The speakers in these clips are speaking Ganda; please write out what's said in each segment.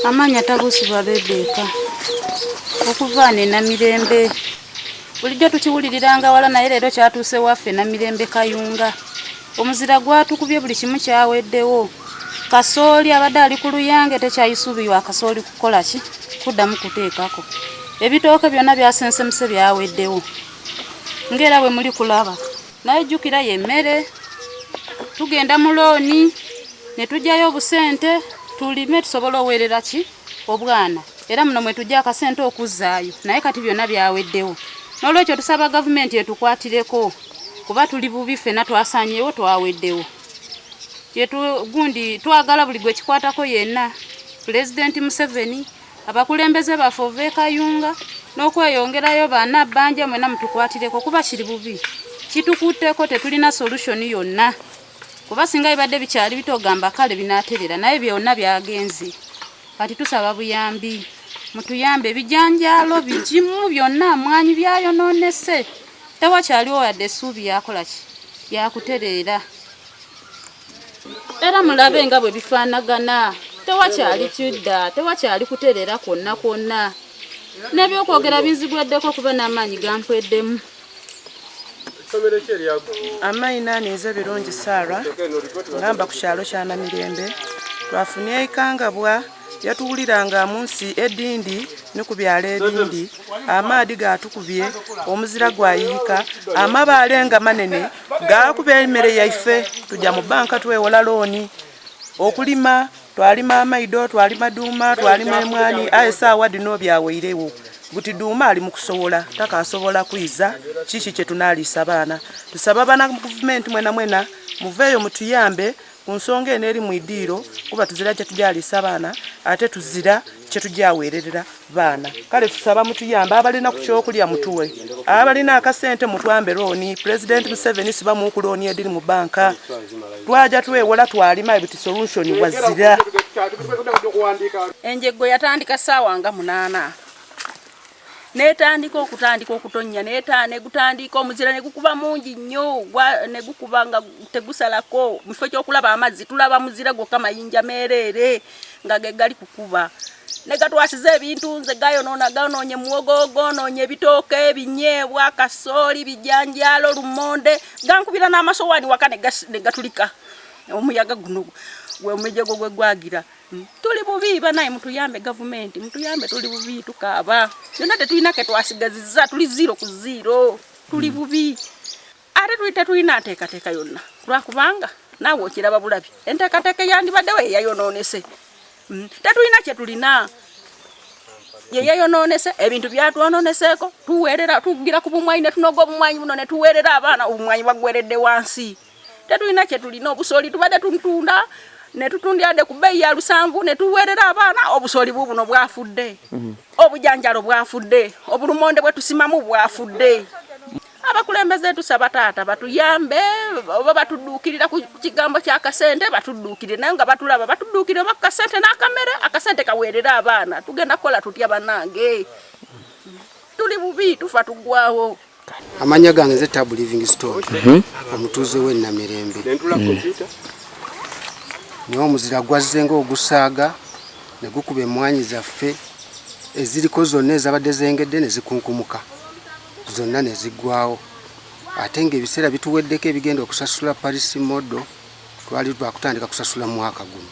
Amaanya Tabusibwa Rebecca okuva wano e Namirembe. Bulijjo tukiwuliriranga wala naye leero kyatuuse waffe Namirembe Kayunga. Omuzira gwatukubye buli kimu kyaweddewo. Kasooli abadde ali ku luyange tekyayisuubirwa akasooli kukola ki kuddamu kuteekako. Ebitooke byonna byasensemuse byaweddewo ng'era bwe muli kulaba. naye jjukira ye mmere tugenda mu looni ne tujjayo obusente tulime tusobole oweerera ki obwana era muno mwe tujja akasente okuzzaayo naye kati byonna byaweddewo n'olwekyo tusaba gavumenti etukwatireko kuba tuli bubi ffena twasanyewo twaweddewo kyetugundi twagala buli gwe kikwatako yenna pulezidenti museveni abakulembeze baffe ova ekayunga n'okweyongerayo baana bbanja mwena mutukwatireko kuba kiri bubi kitukutteko tetulina solution yonna kuba singa bibadde bikyali bitogamba kale binaterera naye byonna byagenze kati tusaba buyambi mutuyambe ebijanjaalo bigimu byonna mwanyi byayononese tewakyaliwo yadde essuubi yakolaki yakutereera era mulabe nga bwe bifaanagana tewakyali kidda tewakyali kutereera kwonna kwonna n'ebyokwogera binzigweddeko kuba n'amaanyi gampweddemu amayina aninze birungi saara ngamba ku kyalo kyanamirembe twafunye ekangabwa yatuwuliranga mu nsi edindi ne ku byalo ebindi amaadi gatukubye omuzira gwayiyika amabaale nga manene gakuba emere yaife tuja mu banka twewola looni okulima twalima amaido twalima duuma twalima emwani aye saawa dino byaweirewo buti duuma ali mukusowola takasobola kwiza kiki kyetunalisa baana tusaba bana gavumenti mwena mwena muveeyo mutuyambe Ku nsonga eno eri mu idiiro kuba tuzira kyetugyaliisa baana ate tuzira kyetugyaweererera baana kale tusaba mutuyambe abalina ku kyokulya mutuwe abalina akasente mutwambe looni pulezidenti museveni sibamuuku looni ediri mu banka twaja twewola twalima ebti solution wazira. Enjeggo yatandika ssaawa nga munaana netandika okutandika okutonya neta negutandika omuzira negukuba mungi nnyo negukuba nga tegusalako mufo kyokulaba amazzi tulaba muzira gwokka mayinja meereere nga gegali kukuba negatwasiza ebintu nze gayonoona gaonoonye muwogo gonoonye ebitooka ebinyeebwa kasooli bijanjaalo lumonde gankubira n'amasowaani waka negatulika omuyaga guno gwemujego gwegwagira Hmm. Tuli bubi banaye mutuyambe gavumenti mutuyambe tuli bubi tukaaba. Yonna tetulina ke twasigaziza tuli zero ku zero. Tuli hmm. bubi. Ate tuli tetulina nteekateeka yonna lwakubanga naawe okiraba bulabi enteekateeka eyandibaddewo eyayonoonese hmm. tetulina kye tulina yeyeyonoonese ebintu byatwononeseeko tuweerera tugira ku bumwanyi ne tunoga obumwanyi buno ne tuweerera abaana obumwanyi bagweredde wansi tetulina kyetulina obusooli tubadde tuntunda netutundyade ku bbeeyi ya lusanvu netuweerera abaana obusooli bu buno bwafudde mhm. obujanjalo bwafudde obulumonde bwetusimamu bwafudde abakulembeze tusaba taata batuyambe oba batudduukirira ku kigambo kya kasente batudduukirire naye nga batulaba batudduukirire oba kasente n'akamere akasente kaweerere abaana tugenda kukola tutya banange tuli bubi tufa tuggwawo Amanya gange nze Tabu Livingstone mhm. omutuuze w'e Namirembe. Mm. Naye omuzira gwazze ng'ogusaaga ne gukuba emmwanyi zaffe eziriko zonna ezabadde zengedde ne zikunkumuka zonna ne ziggwawo ate ng'ebiseera bituweddeko ebigenda okusasula parisi modo twali twakutandika kusasula mwaka guno.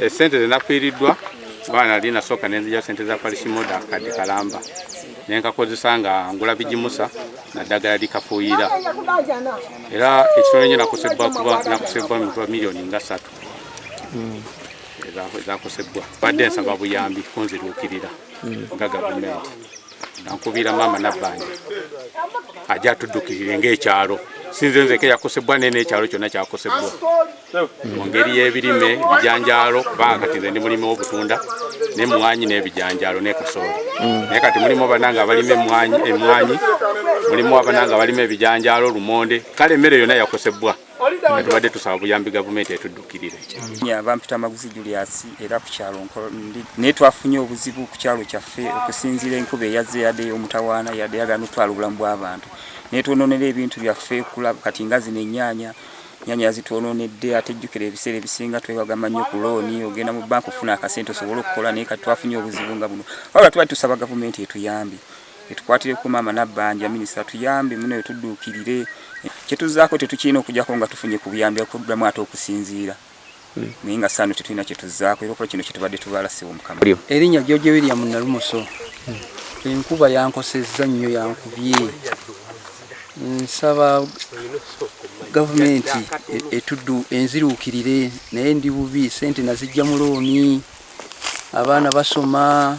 Esente eh, zenafiiriddwa kuba nali nasooka nenzija sente za parisimoda kadde kalamba nenkakozesa nga ngula bigimusa naddagala likafuuyira era ekitono nyo nakosebbwa kuba nakosebbwa mitwa miliyoni nga satu hmm. ezakosebbwa badde nsaba buyambi kunziruukirira nga gavumenti Nankubira maama Nabbanja aja atuddukirire ng'ekyalo sinze nzeke yakosebwa naye n'ekyalo kyonna kyakosebwa mu ngeri y'ebirime ebijanjaalo kubanga kati nze ndi mulimi w'obutunda n'emmwanyi n'ebijanjaalo ne kasooli mm. naye kati mulimu abana nga abalima emmwanyi mulimu abana nga abalima ebijanjaalo lumonde kale emmere yonna yakosebbwa nga tubadde tusaba buyambi gavumenti etuddukirire bampita maguzi julius era ku kyalo nkolo ndi naye twafunye obuzibu ku kyalo kyaffe okusinziira enkuba eyazze yadde omutawaana yadde yagala notwala obulamu bw'abantu naye twononera ebintu byaffe kulaba kati nga zino ennyanya nyanya yazitwononedde ate jjukira ebiseera ebisinga twewagama nnyo ku looni ogenda mu banka ofuna akasente osobole okukola naye kati twafunye obuzibu nga buno wabula tubali tusaba gavumenti etuyambi etukwatireko maama Nabbanja minisita tuyambe muno etudduukirire kyetuzzaako tetukirina okujako nga tufunye ku buyambi okuddamu ate okusinziira hmm. naye nga saano tetulina kyetuzzaako era okuba kino kyetubadde tubaala siwo mukama erinnya George William Nalumoso hmm. enkuba yankosezza nnyo yankubye nsaba gavumenti e, etuddu enziruukirire naye ndi bubi sente nazijja mu looni abaana basoma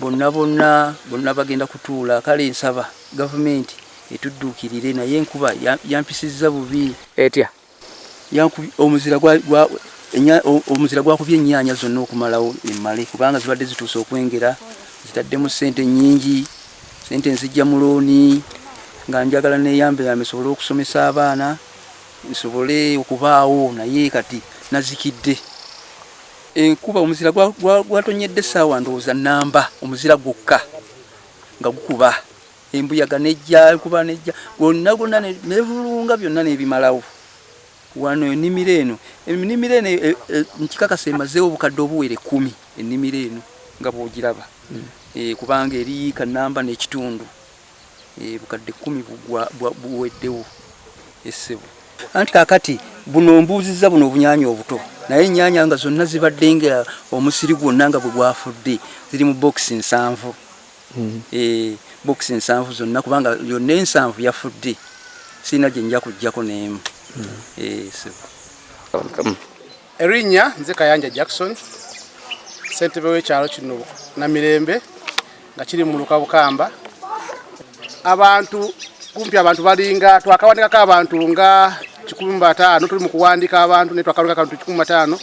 Bonna bonna bonna bagenda kutuula kale nsaba gavumenti etudduukirire naye enkuba yampisizza bubi. Etya? Yankubye omuzira gwa, gwa enya, omuzira gwakubye ennyaanya zonna okumalawo emmale kubanga zibadde zituuse okwengera. Zitaddemu ssente nnyingi, ssente nzijja mu looni nga njagala neeyambeyambe nsobole okusomesa abaana nsobole okubaawo naye kati nazikidde. Enkuba omuzira gwatonnyedde essaawa ndowooza nnamba, omuzira gwokka nga gukuba embuyaga nejja kuba nejja gwonna gwonna nevulunga byonna nebimalawo wano enimiro eno enimiro eno e, e, nkikakasa emazeewo obukadde obuwera ekkumi enimiro eno nga bwogiraba hmm. eh, kubanga eri kanamba n'ekitundu Eeh bukadde kumi bugwa buweddewo eeh ssebo. Anti kakati buno ombuuzizza buno obunyanya obuto naye enyanya nga zonna zibadde nga omusiri gwonna nga bwe gwafudde ziri mu bokisi nsanvu mm. e, bokisi nsanvu zonna kubanga yonna ensanvu yafudde sirina gye nja kujjako n'emu mm. e, so. Erinnya nze Kayanja Jackson, ssentebe w'ekyalo kino Namirembe nga kiri mu muluka Bukamba. Abantu kumpi abantu balinga twakawandikako abantu nga kikumi mu bataano tuli mu kuwandika abantu naye twakawandikako abantu kikumi mu bataano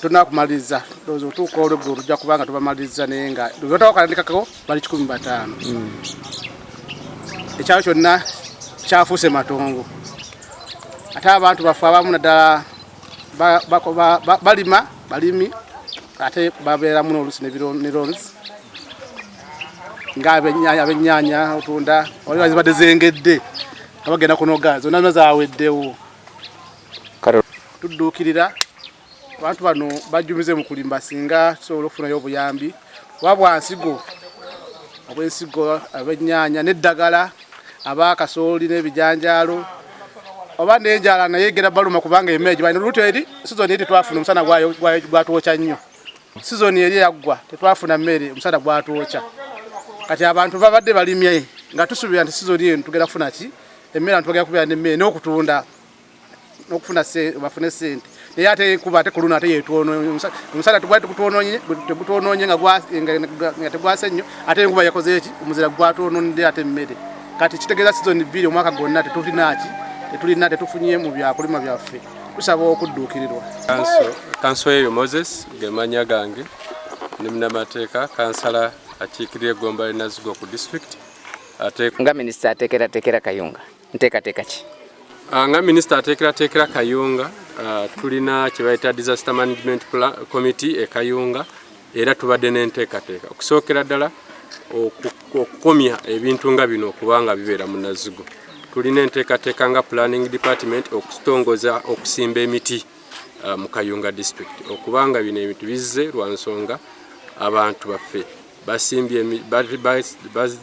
tonakumaliriza ndowooza otuuka olweggulo tujja kuba nga tubamaliriza naye nga lwebatawakalindikako bali kikumi mu bataano hmm. ekyalo kyonna kyafuuse matongo ate abantu baffe abamu naddala balima balimi ate babeeramu n'olusi ne lonsi ng'abennyanya otunda waliwo zibadde zengedde nga bagenda kunoga zonna zona zaweddewo kale tudduukirira abantu bano bajjumize mu kulimba singa tusobola okufunayo obuyambi kuba bwa nsigo obw'ensigo ab'ennyaanya n'eddagala aba kasooli n'ebijanjaalo oba n'enjala naye egera baluma kubanga emere gibalina olubuto eri sizoni eri tetwafuna omusana gwatwokya nnyo sizoni eri yaggwa tetwafuna mmere omusana gwatwokya kati abantu babadde balimye nga tusuubira nti sizoni eno tugenda kufuna ki emmere abantu bagenda kubeera n'emmere n'okutunda okufuna bafune sente naye ate kuba ate kuluno ate yetwonomusala tegutwononye nga tegwase nnyo ate enkuba yakoze eki omuzira gwatwononedde ate emmere kati kitegeeza sizoni bbiri omwaka gwonna tetulinaki tetulina tetufunye mu byakulima byaffe tusaba okudduukirirwa kanso eyo moses gemanya gange ndi munamateeka kansala akiikirira egomba linazigo ku disitulikiti nga minisita ateekerateekera kayunga nteekateeka ki ah, nga minisita ateekerateekera kayunga ah, tulina kye bayita disaster management committee e kayunga era tubadde n'enteekateeka okusookera ddala okukomya ebintu nga bino okuba nga bibeera mu nazigo tulina enteekateeka nga planning department okutongoza okusimba emiti ah, mu kayunga district okubanga bino ebintu bizze lwa nsonga abantu baffe basimbye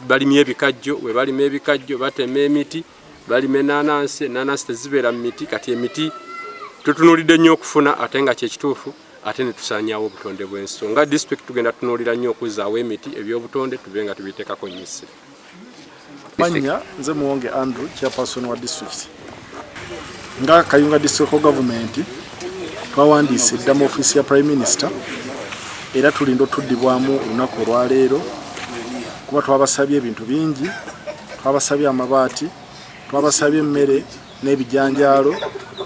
balimye ebikajjo we balima ebikajjo batema emiti balima enanansi enanansi tezibeera mu miti kati emiti tutunulidde nnyo okufuna ate nga kyekituufu ate ne tusaanyaawo obutonde bw'ensi so nga disitulikiti tugenda tunuulira nnyo okuzzaawo emiti ebyobutonde tube nga tubiteekako nnyo essira Manya nze Muwonge Andrew chairperson wa district nga Kayunga district government twawandiise dda mu offiisi ya prime minister era tulinda otuddibwamu olunaku olwaleero kuba twabasabye ebintu bingi twabasabye amabaati twabasabye emmere n'ebijanjaalo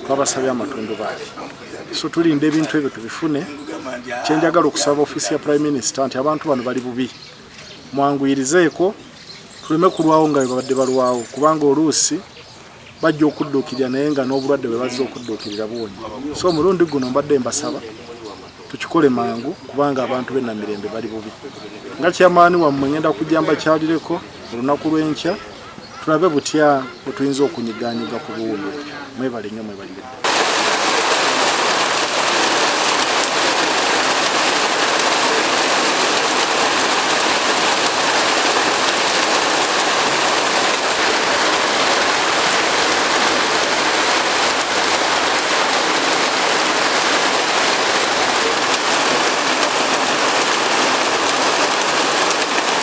twabasabye amatundubaali so tulinda ebintu ebyo tubifune kyenjagala okusaba offiisi ya prime minister nti abantu bano bali bubi mwanguyirizeeko tuleme kulwawo nga bwebabadde balwawo kubanga oluusi bajja okudduukirira naye nga n'obulwadde bwe bazze okudduukirira buwonye so omulundi guno mbadde mbasaba tukikole mangu kubanga abantu be namirembe bali bubi nga kyamaani wammwe ngenda kujja mbakyalireko olunaku lw'enkya tulabe butya wetuyinza okunyiganyiga ku buwundo mwebale nyo mwebalire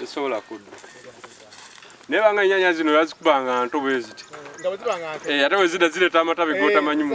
tesobola kudda naye banga enyanya zino yazikubanga nto bweziti eh, ate wezida zireta amatabi eh, gotamanyi mu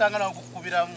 okusanga nawe kukubiramu